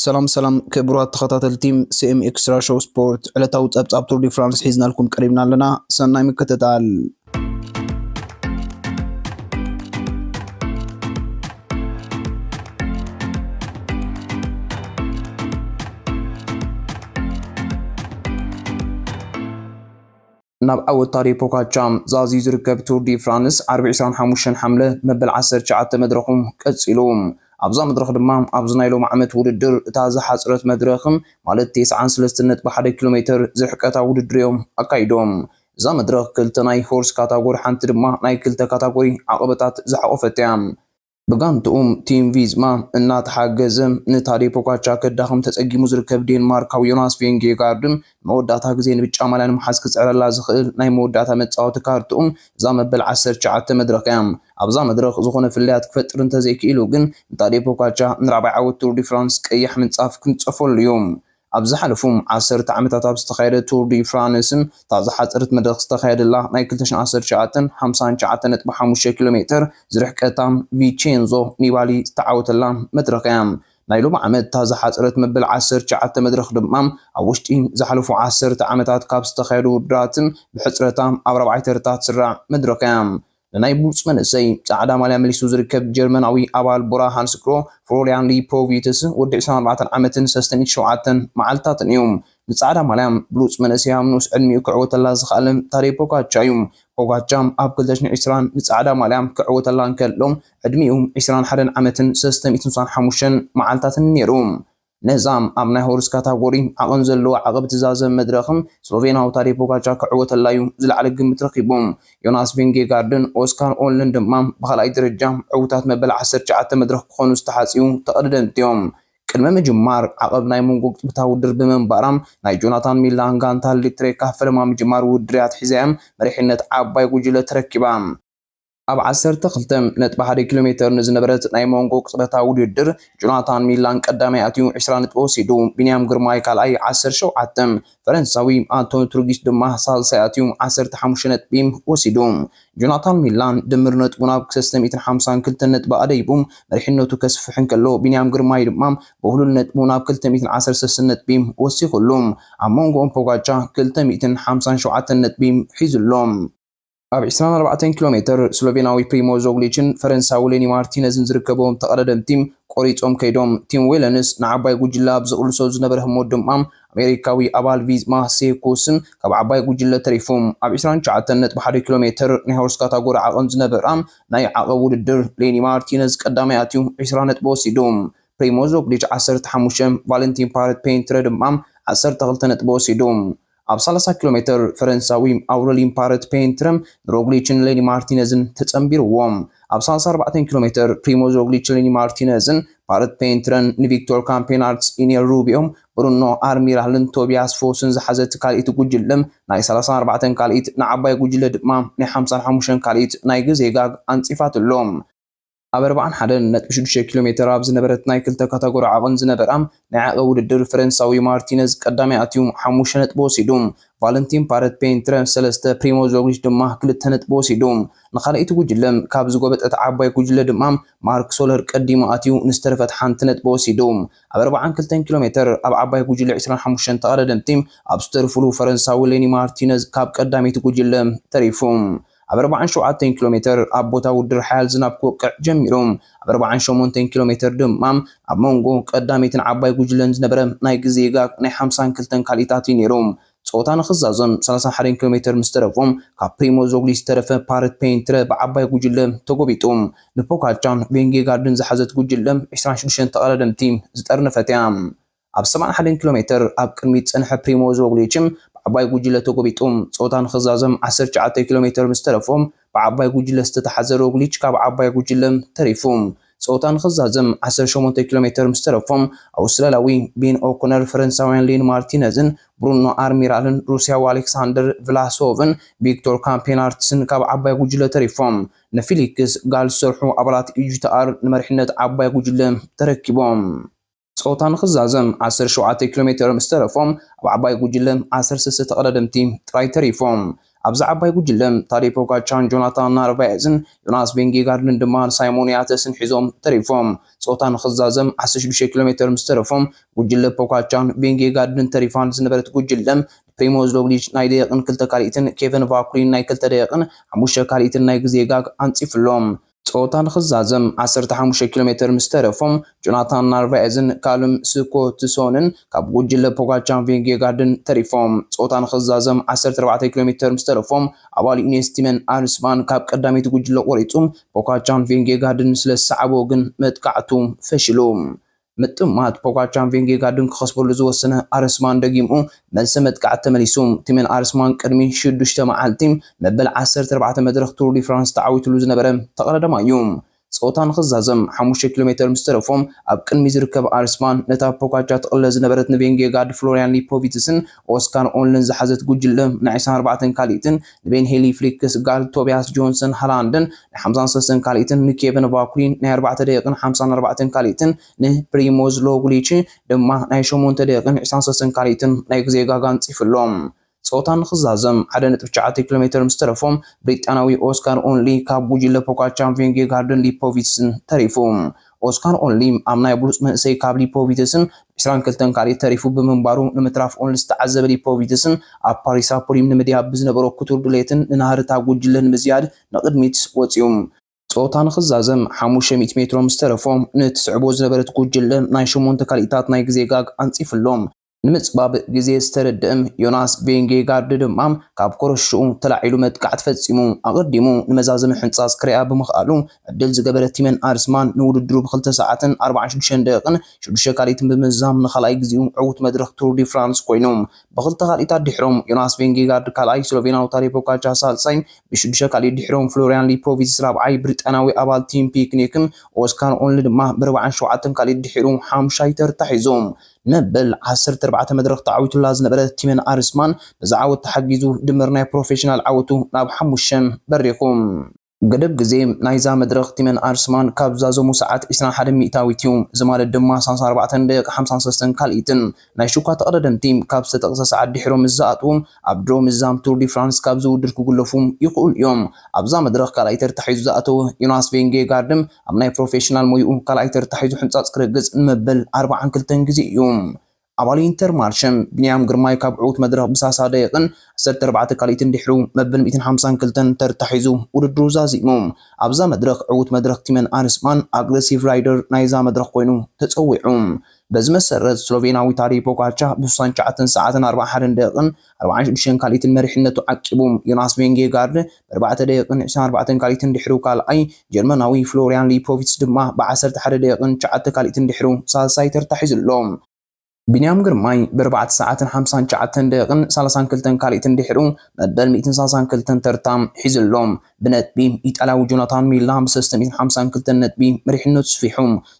ሰላም ሰላም ክቡራት ተኸታተልቲ ሲኤም ኤክስትራ ሾው ስፖርት ዕለታዊ ጸብጻብ ቱር ዲ ፍራንስ ሒዝናልኩም ቀሪብና ኣለና። ሰናይ ምክትታል። ናብ ዓወት ታዴ ፖጋቻ ዛዝዩ ዝርከብ ቱር ዲ ፍራንስ ዓርቢ ዕስራን ሓሙሽተን ሓምለ መበል ዓሰርተ ትሽዓተ መድረኹ ቀጺሉ። ኣብዛ መድረኽ ድማ ኣብዚ ናይ ሎሚ ዓመት ውድድር እታ ዝሓጽረት መድረኽ ማለት ቴስዓን ሰለስተን ነጥቢ ሓደ ኪሎሜተር ዝርሕቀታ ውድድር'ዮም ኣካይዶም። እዛ መድረኽ ክልተ ናይ ሆርስ ካታጎሪ ሓንቲ ድማ ናይ ክልተ ካታጎሪ ዓቐበታት ዝሓቖፈት'ያ። ብጋንትኡ ቲም ቪዝማ እናተሓገዘ ንታዴ ፖጋቻ ከዳኽም ተጸጊሙ ዝርከብ ዴንማርካዊ ዮናስ ቬንጌጋርድ ንመወዳእታ ግዜ ንብጫ ማልያ ንምሓዝ ክጽዕረላ ዝኽእል ናይ መወዳእታ መጻወቲ ካርድኡ እዛ መበል ዓሰርተ ትሽዓተ መድረኽ እያ። ኣብዛ መድረኽ ዝኾነ ፍልልያት ክፈጥር እንተዘይክኢሉ ግን ንታዴ ፖጋቻ ንራብዓይ ዓወት ቱር ዲ ፍራንስ ቀይሕ ምንጻፍ ክንጸፈሉ እዩ። ኣብ ዝሓለፉ ዓሰርተ ዓመታት ኣብ ዝተኻየደ ቱር ዲ ፍራንስ፣ እታ ዝሓጸረት መድረኽ ዝተኻየደላ ናይ ክልተ ሽሕን ዓሰርተ ትሽዓተን፣ ሓምሳን ትሽዓተን ነጥቢ ሓሙሽተ ኪሎ ሜተር ዝርሕቀታ ቪቼንዞ ኒባሊ ዝተዓወተላ መድረኽ እያ። ናይ ሎሚ ዓመት እታ ዝሓጸረት መበል ዓሰርተ ትሽዓተ መድረኽ ድማ፣ ኣብ ውሽጢ ዝሓለፉ ዓሰርተ ዓመታት ካብ ዝተኻየዱ ውድድራት ብሕጽረታ ኣብ ራብዓይ ተርታ ትስራዕ መድረኽ እያ። ንናይ ብሉጽ መንእሰይ ጻዕዳ ማልያ መሊሱ ዝርከብ ጀርመናዊ ኣባል ቡራ ሃንስክሮ፣ ፍሎርያን ሊፖቪትስ፣ ወዲ ዕስራን ኣርባዕተን ዓመትን ሰስትን ሸውዓተን መዓልታትን እዩ። ንጻዕዳ ማልያ ብሉጽ መንእሰይ ኣብ ንኡስ ዕድሚኡ ክዕወተላ ዝኸኣለ ታደይ ፖጋቻ እዩ። ፖጋቻ ኣብ ክልተ ሽሕን ዕስራን ንጻዕዳ ማልያ ክዕወተላ እንከሎ ዕድሚኡ ዕስራን ሓደን ዓመትን ሰስተ ሚእትን ስሳን ሓሙሽተን መዓልታትን እዩ ነይሩ። ነዛ ኣብ ናይ ሆርስ ካታጎሪ ዓቐን ዘለዋ ዓቐብ እትዛዘም መድረኽ ስሎቬንያዊ ታዴ ፖጋቻር ክዕወተላ'ዩ ዝለዓለ ግምት ረኺቡ። ዮናስ ቪንጌጋርድን ኦስካር ኦልድን ድማ ብኻልኣይ ደረጃ ዕዉታት መበል ዓሰርተ ትሽዓተ መድረኽ ክኾኑ ዝተሓጽዩ ተቐደደምቲ'ዮም። ቅድሚ ምጅማር ዓቐብ ናይ መንጎ ቅጽበታዊ ውድድር ብምንባራ፣ ናይ ጆናታን ሚላን ጋንታ ልትሬካ ፈለማ ምጅማር ውድድር'ያ ኣትሒዛ'ያ መሪሕነት ዓባይ ጉጅለ ተረኪባ። ኣብ ዓሰርተ ክልተ ነጥቢ ሓደ ኪሎ ሜተር ንዝነበረት ናይ ሞንጎ ቅጽበታዊ ውድድር ጆናታን ሚላን ቀዳማይ ኣትዩ ዕስራ ነጥቢ ወሲዱ፣ ቢንያም ግርማይ ካልኣይ ዓሰርተ ሸውዓተ፣ ፈረንሳዊ ኣንቶኒ ትሩጊስ ድማ ሳልሳይ ኣትዩ ዓሰርተ ሓሙሽተ ነጥቢ ወሲዱ። ጆናታን ሚላን ድምር ነጥቡ ናብ ሰለስተ ሚእትን ሓምሳን ክልተን ነጥቢ ኣደይቡ መሪሕነቱ ከስፍሕ እንከሎ፣ ቢንያም ግርማይ ድማ ብውህሉል ነጥቡ ናብ ክልተ ሚእትን ዓሰርተ ሰለስተን ነጥቢ ወሲኹሉ። ኣብ መንጎኦም ፖጋቻ ክልተ ሚእትን ሓምሳን ሸውዓተን ነጥቢ ሒዙ ኣሎ። ኣብ ዕስራን ኣርባዕተን ኪሎ ሜተር ስሎቬናዊ ፕሪሞዝ ሮግሊችን ፈረንሳዊ ሌኒ ማርቲነዝን ዝርከብዎም ተቐዳደምቲ ቆሪጾም ከይዶም። ቲም ዌለንስ ንዓባይ ጉጅለ ኣብ ዝቕልሶ ዝነበረ ህሞት ድማ ኣሜሪካዊ ኣባል ቪዝማ ሴኩስን ካብ ዓባይ ጉጅለ ተሪፉ። ኣብ ዕስራን ትሽዓተን ነጥቢ ሓደ ኪሎ ሜተር ናይ ሆርስ ካታጎሪ ዓቐን ዝነበራ ናይ ዓቐብ ውድድር ሌኒ ማርቲነዝ ቀዳማይ ኣትዩ ዕስራ ነጥቢ ወሲዱ። ፕሪሞዝ ሮግሊች ዓሰርተ ሓሙሽተ፣ ቫለንቲን ፓረት ፔንትረ ድማ ዓሰርተ ክልተ ነጥቢ ወሲዱ። ኣብ ሰላሳ ኪሎ ሜተር፣ ፈረንሳዊ ኣውረሊን ፓረት ፔንትረም ንሮግሊችን ሌኒ ማርቲነዝን ተጸንቢሩዎም። ኣብ ሰላሳ ኣርባዕተ ኪሎ ሜተር፣ ፕሪሞዝ ሮግሊች ሌኒ ማርቲነዝን ፓረት ፔንትረን ንቪክቶር ካምፔናርትስ ኢኔል ሩቢዮም ብሩኖ ኣርሚራልን ቶቢያስ ፎስን ዝሓዘት ካልኢት ጉጅለ ናይ ሰላሳን ኣርባዕተን ካልኢት ንዓባይ ጉጅለ ድማ ናይ ሓምሳን ሓሙሽተን ካልኢት ናይ ግዜ ጋግ ኣንጺፋትሎም። ኣብ ኣርባዓን ሓደን ነጥቢ ሽዱሽተ ኪሎ ሜተር ኣብ ዝነበረት ናይ ክልተ ካታጎሪ ዓቐን ዝነበራ ናይ ዓቐብ ውድድር ፈረንሳዊ ማርቲነዝ ቀዳማይ ኣትዩ ሓሙሽተ ነጥቢ ወሲዱ። ቫለንቲን ፓረት ፔንትረ ሰለስተ፣ ፕሪሞዝ ሮግሊች ድማ ክልተ ነጥቢ ወሲዱ። ንካልኣይቲ ጉጅለ ካብ ዝጎበጠት ዓባይ ጉጅለ ድማ ማርክ ሶለር ቀዲሙ ኣትዩ ንዝተረፈት ሓንቲ ነጥቢ ወሲዱ። ኣብ ኣርባዓን ክልተን ኪሎ ሜተር ኣብ ዓባይ ጉጅለ ዕስራን ሓሙሽተን ተቐዳደምቲ ኣብ ዝተርፉሉ ፈረንሳዊ ሌኒ ማርቲነዝ ካብ ቀዳመይቲ ጉጅለ ተሪፉ። ኣብ ኣርባዓን ሸውዓተን ኪሎ ሜተር ኣብ ቦታ ውድድር ሓያል ዝናብ ክወቅዕ ጀሚሩ። ኣብ ኣርባዓን ሸሞንተን ኪሎ ሜተር ድማ ኣብ ሞንጎ ቀዳመይትን ዓባይ ጉጅለን ዝነበረ ናይ ግዜ ጋግ ናይ ሓምሳን ክልተን ካልኢታት እዩ ነይሩ። ጸወታ ንኽዛዘም ሰላሳን ሓደን ኪሎ ሜተር ምስ ተረፎ ካብ ፕሪሞዝ ሮግሊች ዝተረፈ ፓረት ፔይንትረ ብዓባይ ጉጅለ ተጎቢጡ። ንፖጋቻን ቬንጌጋርድን ዝሓዘት ጉጅለ ዕስራን ሽዱሽተን ተቐዳደምቲ ዝጠርነፈት እያ። ኣብ ሰብዓን ሓደን ኪሎ ሜተር ኣብ ቅድሚት ዝጸንሐ ፕሪሞዝ ሮግሊችም ብዓባይ ጉጅለ ተጎቢጡ። ጸወታ ንኽዛዘም ዓሰርተ ትሽዓተ ኪሎ ሜተር ምስ ተረፎ ብዓባይ ጉጅለ ዝተታሕዘ ሮግሊች ካብ ዓባይ ጉጅለ ተሪፉ። ጸወታ ንኽዛዘም ዓሰርተ ሸሞንተ ኪሎ ሜተር ምስ ተረፎ ኣውስትራልያዊ ቤን ኦኮነር፣ ፈረንሳውያን ሊን ማርቲነዝን ብሩኖ ኣርሚራልን ሩስያዊ ኣሌክሳንደር ቭላሶቭን ቪክቶር ካምፔናርትስን ካብ ዓባይ ጉጅለ ተሪፎም ንፊሊክስ ጋል ዝሰርሑ ኣባላት ኢጂቲኣር ንመሪሕነት ዓባይ ጉጅለ ተረኪቦም። ጸወታ ንኽዛዘም ዓሰርተ ሸውዓተ ኪሎ ሜተር ምስ ተረፎ፣ ኣብ ዓባይ ጉጅለ ዓሰርተ ሰለስተ ተቐዳደምቲ ጥራይ ተሪፎም። ኣብዛ ዓባይ ጉጅለ ታዴ ፖጋቻን ጆናታን ናርቫኤዝን ዮናስ ቪንጌጋርድን ድማ ንሳይሞን ያተስን ሒዞም ተሪፎም። ጸወታ ንኽዛዘም ዓሰርተ ሽዱሽተ ኪሎ ሜተር ምስ ተረፎ፣ ጉጅለ ፖጋቻን ቪንጌጋርድን ተሪፋ ዝነበረት ጉጅለ ፕሪሞዝ ሮግሊች ናይ ደቂቕን ክልተ ካልኢትን ኬቨን ቫኩሊን ናይ ክልተ ደቂቕን ሓሙሽተ ካልኢትን ናይ ግዜ ጋግ ኣንጺፉሎም። ጸወታ ንኽዛዘም ዓሰርተ ሓሙሽተ ኪሎ ሜተር ምስ ተረፎ፣ ጆናታን ናርቫኤዝን ካልም ስኮትሶንን ካብ ጉጅለ ፖጋቻር-ቪንጌጋርድን ተሪፎም። ጸወታ ንኽዛዘም ዓሰርተ ኣርባዕተ ኪሎ ሜተር ምስ ተረፎ፣ ኣባል ዩኔስ ቲመን ኣርስባን ካብ ቀዳመይቲ ጉጅለ ቆሪጹ ፖጋቻርን ቪንጌጋርድን ስለ ዝሰዓቦ ግን መጥቃዕቱ ፈሺሉ። ምጥማት ፖጋቻን ቬንጌጋርድን ክኸስበሉ ዝወሰነ ኣርስማን ደጊሙ መልሰ መጥቃዕቲ ተመሊሱ። ቲሜን ኣርስማን ቅድሚ ሽዱሽተ መዓልቲ መበል ዓሰርተ ኣርባዕተ መድረኽ ቱር ዲ ፍራንስ ተዓዊትሉ ዝነበረ ተቐዳዳማይ'ዩ። ጸወታ ንኽዛዘም ሓሙሽተ ኪሎ ሜተር ምስ ተረፎ ኣብ ቅድሚት ዝርከብ ኣርስማን ነታ ፖጋቻ ትቕለስ ዝነበረት ንቬንጌጋርድ ፍሎርያን ሊፖቪትስን ኦስካር ኦንልን ዝሓዘት ጉጅለ ናይ ዕስራን ኣርባዕተን ካልኢትን ንቤን ሄሊ ፍሊክስ ጋል ቶብያስ ጆንሰን ሃላንድን ናይ ሓምሳን ሰለስተን ካልኢትን ንኬቨን ቫኩሊን ናይ ኣርባዕተ ደቂቕን ሓምሳን ኣርባዕተን ካልኢትን ንፕሪሞዝ ሎጉሊች ድማ ናይ ሸሞንተ ደቂቕን ዕስራን ሰለስተን ካልኢትን ናይ ግዜ ጋግ ኣንጺፉ ኣሎ። ጸወታ ንኽዛዘም ሓደ ነጥቢ ትሽዓተ ኪሎ ሜተር ምስ ተረፎ ብሪጣንያዊ ኦስካር ኦንሊ ካብ ጉጅለ ፖጋቻን ቪንጌጋርድን ሊፖቪትስን ተሪፉ። ኦስካር ኦንሊ ኣብ ናይ ብሉጽ መንእሰይ ካብ ሊፖቪትስን ዕስራን ክልተን ካልኢት ተሪፉ ብምንባሩ ንምትራፍ ኦንሊ ዝተዓዘበ ሊፖቪትስን ኣብ ፓሪሳ ፑሪም ንምድያብ ብዝነበሮ ክቱር ድሌትን ንናህሪ እታ ጉጅለ ንምዝያድ ንቕድሚት ወጺኡ ጸወታ ንኽዛዘም ሓሙሽተ ሚእቲ ሜትሮ ምስተረፎ ንእትስዕቦ ዝነበረት ጉጅለ ናይ ሸሞንተ ካልኢታት ናይ ግዜ ጋግ ኣንጺፉ ኣሎ። ንምጽባብ ግዜ ዝተረድኣ ዮናስ ቬንጌጋርድ ድማ ካብ ኮረሽኡ ተላዒሉ መጥቃዕቲ ፈጺሙ። ኣቐዲሙ ንመዛዘሚ ሕንጻጽ ክርእያ ብምኽኣሉ ዕድል ዝገበረ ቲመን ኣርስማን ንውድድሩ ብ ክልተ ሰዓትን ኣርባዓን ሽዱሽተን ደቒቕን ሽዱሽተ ካልኢትን ብምዝዛም ንኻልኣይ ግዜኡ ዕዉት መድረኽ ቱር ዲ ፍራንስ ኮይኑ። ብኽልተ ካልኢት ኣድሒሮም ዮናስ ቬንጌጋርድ ካልኣይ፣ ስሎቬናዊ ታዴ ፖጋቻር ሳልሳይ፣ ብሽዱሽተ ካልኢት ድሒሮም ፍሎርያን ሊፖቪትዝ ራብዓይ፣ ብሪጣንያዊ ኣባል ቲም ፒክኒክን ኦስካር ኦንሊ ድማ ብርብዓን ሸውዓተን ካልኢት ድሒሩ ሓምሻይ ተርታ ሒዙ። መበል ዓሰርተ ኣርባዕተ መድረኽ ተዓዊቱላ ዝነበረ ቲመን ኣርስማን በዚ ዓወት ተሓጊዙ ድምር ናይ ፕሮፌሽናል ዓወቱ ናብ ሓሙሽተ በሪኹ። ገደብ ግዜ ናይዛ መድረኽ ቲመን ኣርስማን ካብ ዛዘሙ ሰዓት ዕስራን ሓደን ሚእታዊት እዩ። እዚ ማለት ድማ ሳልሳ ኣርባዕተን ደቂቕ ሓምሳን ሰለስተን ካልኢትን። ናይ ሽኳ ተቐዳደምቲ ካብ ዝተጠቕሰ ሰዓት ድሒሮም ምስ ዝኣትዉ ኣብ ድሮ ምዛም ቱር ዲ ፍራንስ ካብዚ ውድድር ክጉለፉ ይኽእሉ እዮም። ኣብዛ መድረኽ ካልኣይ ተርታ ሒዙ ዝኣተወ ዮናስ ቬንጌጋርድ፣ ኣብ ናይ ፕሮፌሽናል ሞይኡ ካልኣይ ተርታ ሒዙ ሕንጻጽ ክረግጽ ንመበል ኣርብዓን ክልተን ግዜ እዩ። ኣባል ኢንተርማርሸም ቢንያም ግርማይ ካብ ዕዉት መድረኽ ብሳሳ ደቂቕን ዓሰርተ ኣርባዕተ ካልኢትን ድሒሩ መበል ሚእትን ሓምሳን ክልተን ተርታ ሒዙ ውድድሩ ዛዚሙ። ኣብዛ መድረኽ ዕዉት መድረኽ ቲመን ኣርስማን ኣግረሲቭ ራይደር ናይዛ መድረኽ ኮይኑ ተጸዊዑ። በዚ መሰረት ስሎቬንያዊ ታደይ ፖጋቻ ብስሳን ትሽዓተን ሰዓትን ኣርብዓን ሓደን ደቂቕን ኣርብዓን ሽዱሽተን ካልኢትን መሪሕነቱ ዓቂቡ። ዮናስ ቬንጌጋርድ ብኣርባዕተ ደቂቕን ዕስራን ኣርባዕተን ካልኢትን ድሕሩ ካልኣይ፣ ጀርመናዊ ፍሎርያን ሊፖቪትስ ድማ ብዓሰርተ ሓደ ደቂቕን ትሽዓተ ካልኢትን ድሕሩ ሳልሳይ ተርታ ሒዙ ኣሎ። ቢንያም ግርማይ ብኣርባዕተ ሰዓትን ሓምሳን ትሽዓተን ደቂቕን ሰላሳን ክልተን ካልኢትን ድሕሩ መበል ሚእትን ሰላሳን ክልተን ተርታ ሒዙ ኣሎ። ብነጥቢ ኢጣልያዊ ጆናታን ሚላ ብሰለስተ ሚእትን ሓምሳን ክልተን ነጥቢ መሪሕነቱ ስፊሑ።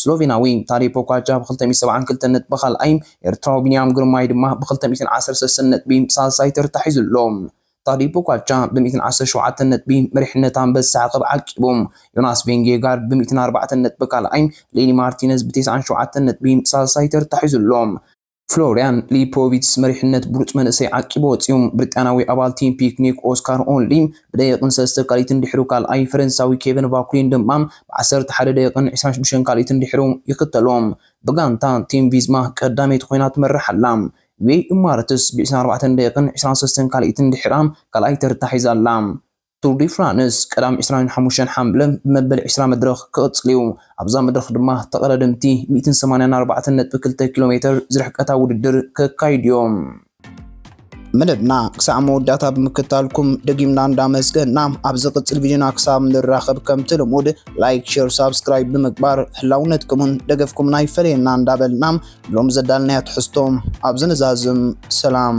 ስሎቬናዊ ታዴ ፖጋቻ ብክልተ ሚእትን ሰብዓን ክልተን ነጥቢ ካልኣይ፣ ኤርትራዊ ቢንያም ግርማይ ድማ ብክልተ ሚእትን ዓሰርተ ሰለስተን ነጥቢ ሳልሳይ ተርታ ሒዙ ኣሎ። ታዴ ፖጋቻ ብሚእትን ዓሰርተ ሸውዓተን ነጥቢ መሪሕነት ኣንበሳ ዓቐብ ዓቂቡ። ዮናስ ቬንጌጋርድ ብሚእትን ኣርባዕተን ነጥቢ ካልኣይ፣ ሌኒ ማርቲነዝ ብቴስዓን ሸውዓተን ነጥቢ ሳልሳይ ተርታ ሒዙ ኣሎ። ፍሎርያን ሊፖቪትስ መሪሕነት ብሉጽ መንእሰይ ዓቂቡ ወጺኡ። ብሪጣንያዊ ኣባል ቲም ፒክኒክ ኦስካር ኦንሊ ብደቂቕን ሰለስተ ካልኢትን ድሕሩ ካልኣይ ፈረንሳዊ ኬቨን ቫኩሊን ድማ ብዓሰርተ ሓደ ደቂቕን ዕስራን ሽዱሽተን ካልኢትን ድሕሩ ይኽተሎ። ብጋንታ ቲም ቪዝማ ቀዳመይቲ ኮይና ትመርሕ ኣላ። ዌይ ኢማረትስ ብዕስራን ኣርባዕተን ደቂቕን ዕስራን ሰለስተን ካልኢትን ድሕራ ካልኣይ ተርታ ሒዛ ኣላ። ቱር ዲ ፍራንስ ቀዳም ዕስራን ሓሙሽተን ሓምለ ብመበል ዕስራ መድረኽ ክቕጽል'ዩ። ኣብዛ መድረኽ ድማ ተቐዳደምቲ ሚእትን ሰማንያን ኣርባዕተን ነጥቢ ክልተ ኪሎ ሜተር ዝርሕቀታ ውድድር ከካይዱ'ዮም። መደብና ክሳዕ መወዳእታ ብምክታልኩም ደጊምና እንዳመስገና ኣብ ዝቕጽል ቪድዮና ክሳብ ንራኸብ ከምቲ ልሙድ ላይክ ሼር ሳብስክራይብ ብምግባር ህላውነትኩምን ደገፍኩምን ኣይፈለየና እንዳበልና ሎሚ ዘዳልናዮ ትሕዝቶ ኣብዚ ንዛዝም ሰላም